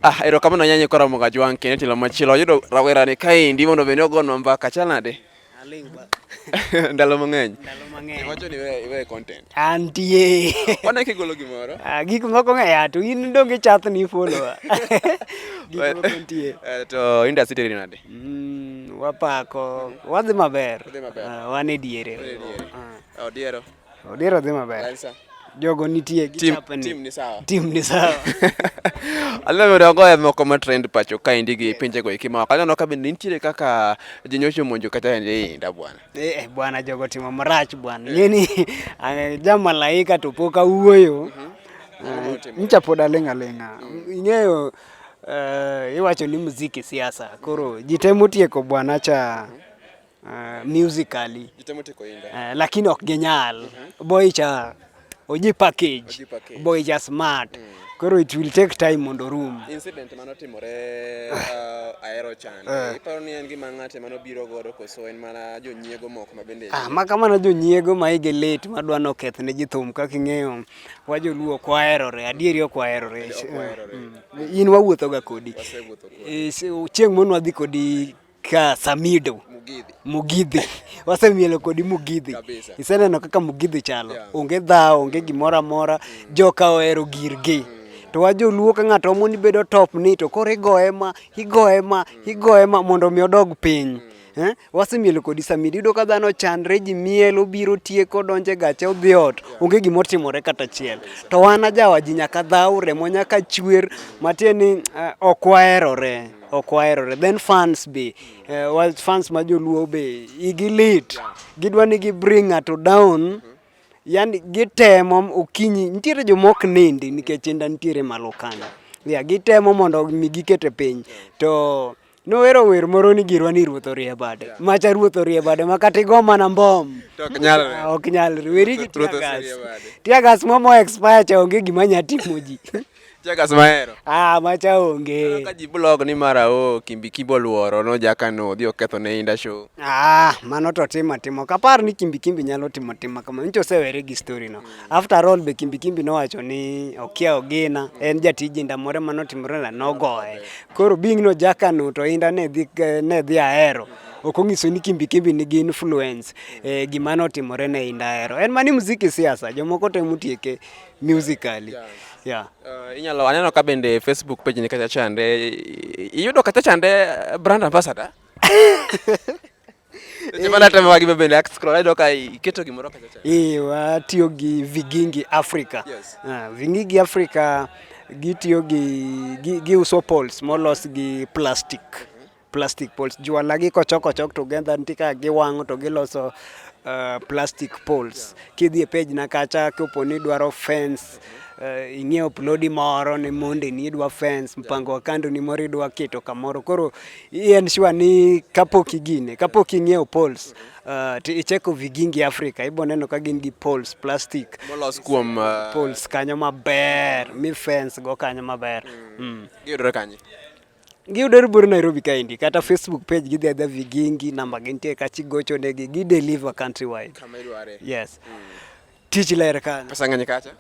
Ah, erokamano nyanya kora moga jwang kene tilo machilo yudo rawera ni kaendi mondo bende ogonwa mbaka chal nade ndalo mang'eny iwacho ni iwe content antie wana kigolo gimoro ah, gik moko ng'eya to in donge chath ni follower gik moko nitie eh, to industry teri nade mm, wapako wadhi maber ah, wan e diere odiero Odira dhi maber. Wan sa. Jogo nitie Tim, gichapani. tim ni sawa. Tim ni sawa. Aneno dongo moko ma trend pacho ka endi gi pinje go eki ma oko. Aneno ka be nitiere kaka ji nyocho monjo kata endi inda bwana. Eh, eh, bwana jogo timo marach bwana. Ngeni eh, ja malaika to pok awuoyo. Eh, Ncha pod aling' aling'a. Ing'eyo eh, iwacho ni muziki siasa. Koro ji temo tieko bwana cha uh, musically uh, lakini ok ginyal mm -hmm. boy cha oji package, oji package. boy cha smart mm. Koro it will take time mondo room. Incident mano timore uh, aero chan. Uh. Eh. Iparo ni en gima ng'ate mano biro godo koso en mana jonyiego moko ma bende. Ah, ma kamano jonyiego ma ige late ma dwa no keth ne ji thum kaka ing'eyo. Wa joluo kwa aerore, adieri ok wa aerore. Mm. In wawuotho ga kodi. Wasewuotho kodi. Eh, chieng' mono wadhi kodi ka Samido Mugidhi. Mugidhi wasemielo kodi Mugidhi Kabisa. iseneno kaka Mugidhi chalo Yeah. onge dhawo onge gimoro amora joka ohero girgi to wa joluo ka ng'ato omo ni bedo top ni to koro igoye ma igoye ma igoye ma mondo mi odog piny Eh? wasemielo kodi Samido iyudo ka dhano chandre ji miel obiro tieko donjo e gache odhi ot onge gima otimore kata achiel to wan ajawa ji nyaka dhaw remo nyaka chwer matieni eh, ok waherore ok waherore then fans be uh, fans ma joluo be igi lit gidwa ni gi bring ng'ato down yani gitemo okinyi nitiere jomok nindi nikech inda nitiere malo kanyo yeah, gitemo mondo mi gikete piny to nowero wer moro ni girwa ni ruoth orie bade yeah. macha ruoth orie bade ma kata igo mana mbom ok nyalre ah, ok nyalre weri gi tiagas tiagas momo expire cha onge gima nya timo ji Checkers mahero. Ah, macha onge. Ka ji blog ni mara o Kimbi Kimbo luoro no jaka no odhi oketho ne inda show. Ah, mano to timo timo. Kapar ni Kimbi Kimbi nyalo timo timo kama. Ncho sewere gi story no. After all be Kimbi Kimbi nowacho ni okia ogina en jatiji inda more mano timore na nogoye. Koro bing no jaka no to inda ne dhi ne dhi ahero ok ong'iso ni Kimbi Kimbi nigi influence e, gima notimore ne Indahero. En mani muziki siasa, jomoko temo tieke musically yeah. Yeah. Uh, inyalo aneno ka bende Facebook page ni kacha chande iyudo kacha chande eh, brand ambassador watiyo gi Vigingi Africa. Yes. Uh, Vigingi Africa gitiyo gi giuso poles molos gi plastic. plastic poles juala gi kochok ochok together nitie kaka giwang'o to giloso uh, plastic poles kidhi e page na kacha kopo ni dwaro fence uh, ing'iewo plodi moro ni mondi ni idwa fence mpango wa kando ni moro idwa keto kamoro koro en sure ni kapok igine kapok ing'iewo poles uh, to icheko vigingi Africa ibo neno ka gin gi poles plastic molos kuom uh... poles kanyo maber mi fence go kanyo maber mm. mm. giyudore kanye Giyudore bor Nairobi kaendi kata Facebook page gidhi adha Vigingi namba gintie kachi gocho negi gi deliver country wide. Kama idware. Yes. Mm. Tich ler kana. Pesa ng'eny kacha.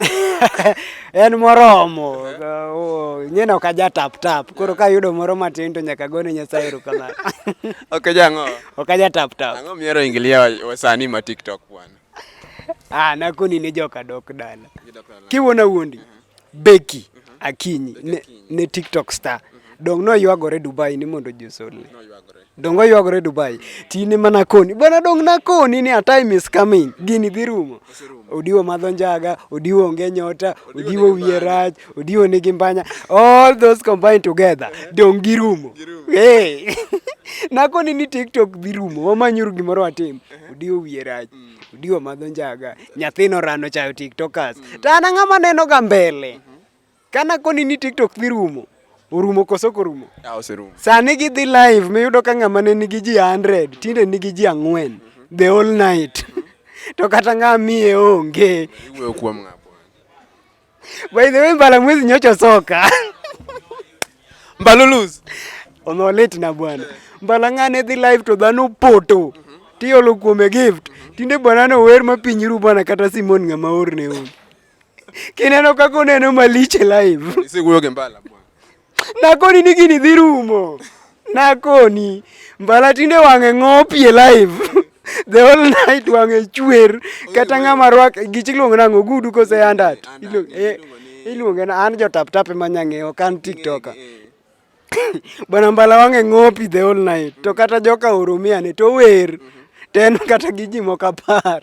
En moromo. Oh, nyena ok aja tap tap. Koro ka yudo moro matin to nyaka gone Nyasaye erokamano. Ok jango. Ok aja tap tap. Ang'o miero ingilia wasani ma TikTok bwana? Ah, nakoni ne joka dok dala. Kiwona wuondi. Uh -huh. Becky Akinyi ne, ne TikTok star dong noywagore Dubai ni mondo ji osolne dong oywagore Dubai tine mana koni bwana dong nakoni ni a time is coming gini dhi rumo odiwo madho njaga odiwo onge nyota odiwo wiye rach odiwo nigi mbanya all those combined together dong girumo hey. nakoni ni TikTok dhi rumo wamanyuru gimoro watim odiwo wiye rach Odiwa madho njaga. Nyathino rano chayo TikTokers. Mm. To an ang'ama neno ga mbele. Mm-hmm. Kana koni ni TikTok dhi rumo. Orumo koso korumo? Ah, oserumo. Sani gidhi live miyudo ka ng'ama ne nigi ji 100, tinde nigi ji ang'wen. Mm-hmm. The whole night. Mm-hmm. To kata ng'ama miye onge. Iwuoyo kuom ng'ama. By the way, mbala mwezi nyocho soka. Mbaluluz. Ono late na bwana. Mbala ngane dhi live to dhano poto. Mm -hmm. Tiolo kuome gift. Mm -hmm. Tinde bwana no wer ma piny ru bwana kata Simon ngama orne un. Kineno kako neno maliche live. Isi kuyo ke mbala bwana. Nakoni ni gini dhi rumo. Nakoni mbala tinde wang'e ng'opie live. The whole night wang'e chwer kata ng'ama rwak gichi iluongo nang'o gudu kose andat. Eh, iluonge na an jo tap tap ema nyang'e ok an tiktoka. Bwana mbala wang'e ng'opi the whole night to kata joka oromia ne to wer. Ten kata gi ji moko apar.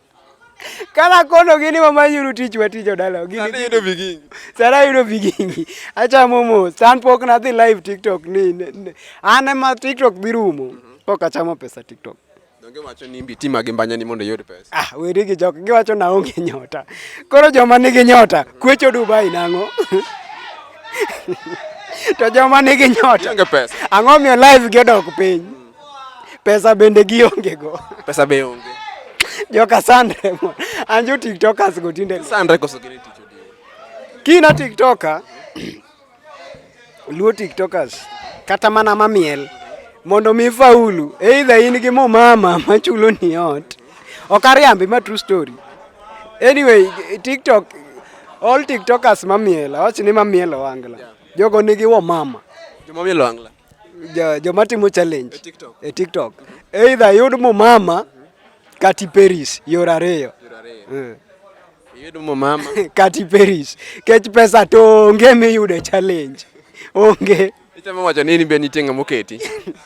Kala kono gini mama yuru tich wa tijo dalo. Gini Sara yudo bigingi. Sara yudo bigingi. Acha momo, san pok na dhi live TikTok ni. Ane ma TikTok dhi rumo. Mm -hmm. Pok achamo pesa TikTok. Donge wacho ni mbi tima gi mbanya ni mondo yud pesa. Ah, weri gi jok gi wacho na onge nyota. Koro joma nigi nyota, kwecho Dubai nango. to joma nigi nyota. Ang'o miyo live gi odok piny? Pesa bende gionge go. Pesa be onge. Joka sandre mo. Anjo tiktokers go tinde. Sandre koso gini ticho di. Kina tiktoka. Luo tiktokers. Kata mana mamiel. Mondo mi faulu. Either in gi mo mama machulo ni ot. Ok ariambi ma true story. Anyway, TikTok all TikTokers mamiel. Awach ni mamiel owangla. Jogo nigi wo mama. Jomamiel owangla. joma timo challenge e TikTok either yud mumama kati Paris yore ariyo eh. yud mumama kati Paris kech pesa to onge miyudo e challenge onge Itemo wacho nini be nitie ng'ama oketi?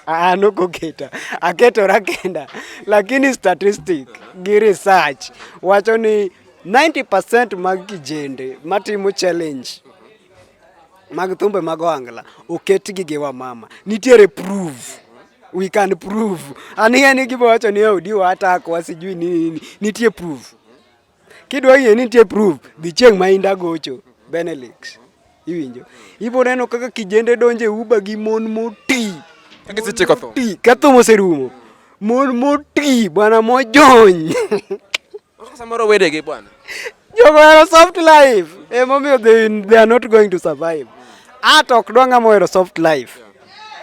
Ah, nok oketa. Aketora kenda. Lakini statistic gi research wacho ni 90% mag kijende matimo challenge mag thumbe mag ohangla oketgi gi wamama nitiere proof we can prove aniya ni gibo wacho ni odi watak wasijui ni nini nitie proof kidwa yie nitie proof dhi chieng' ma inda gocho benelix iwinjo ibo neno kaka kijende donje uba gi mon moti ketho moserumo mon moti bwana mojony Samoro wedegi bwana. Jogo hero soft life. Eh, mommy they, they are not going to survive. At ok dwa ng'ama ohero soft life.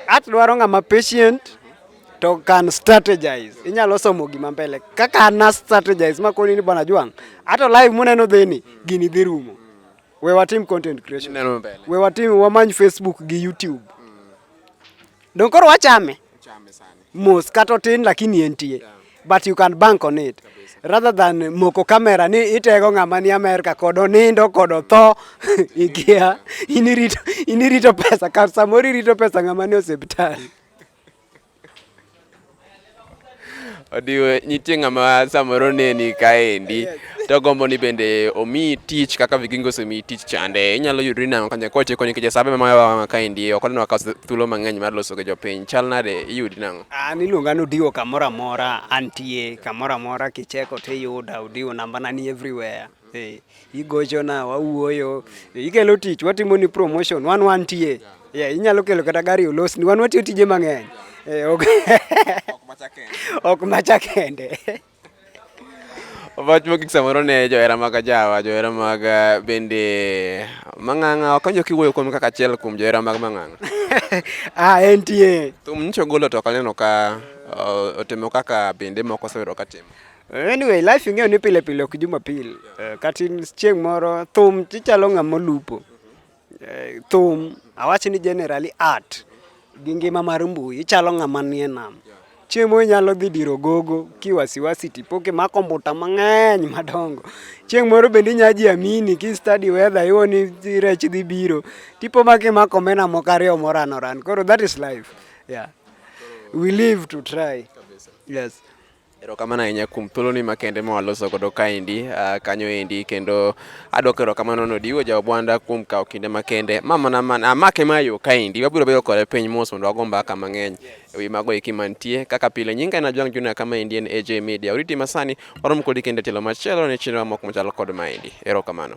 At dwaro ng'ama patient to can strategize. Inyalo somo gima mbele. Kaka na strategize makoni ni bwana Jwang. Ato live muneno dheni gini dhi rumo. We watim content creation. Neno mbele. We watim wamany Facebook gi YouTube. Don koro wachame. Chame sana. mos kata otin lakini entie but you can bank on it rather than moko kamera ni itego ng'ama ni Amerka kod onindo kod otho ikia inirito inirito pesa kar samoro irito pesa ng'ama ni osiptal odiwe nitie ng'ama samoro neni kaendi to gombo ni bende omi tich kaka vigingo osemi tich chande inyalo yudri nang'o kanya koche konyo kije sabe ma wa kaendi ok oneno akawo thuolo mang'eny mar loso gi jopiny chal nade iyudi nang'o an iluonga ni odiwo kamoro amora antie kamoro amora kicheko to iyuda odiwo nambana ni everywhere Eh, igochona wawuoyo Eh, ikelo tich watimo ni promotion wan wantie Yeah, inyalo kelo kata gari olosni wan watiyo tije mang'eny Eh, ok- ok macha kende Wach mogik samoro ne johera mag Ajawa, johera mag eh, bende Mang'ang'a, wakanjo kiwuoyo kuom kaka achiel kuom johera mag Mang'ang'a. ah, entie. Thum nyicho golo to kaneno ka uh, otimo kaka bende moko osewero katimo. Anyway, life ing'eyo ni pile pile ok jumapil. Eh, Kata in chieng' moro thum ichalo ng'ama olupo. Eh, thum awach ni generally art gi ngima mar mbui ichalo ng'ama nie nam chiemo inyalo dhi diro gogo kiwasiwasi tipo kimako mbuta mang'eny madongo chieng' moro bende inya ji amini ki study weather iwo ni rech dhi biro tipo ma kimako mena moko ariyo moran oran koro that is life yeah we live to try yes Erokamano ahinya kuom thuoloni makende ma waloso godo kaendi uh, kanyo endi kendo adwoko erokamano no diwo jaobwanda kuom kawo kinde makende ma mana mana amake ma yo kaendi wabiro bedo kode piny mos mondo wago mbaka mang'eny ewi mago eki mantie kaka pile nyinga en Ajwang' Junior kama endi en AJ Media oriti masani warom kodi kendo e tielo machielo ne chenro mamoko machalo kod maendi erokamano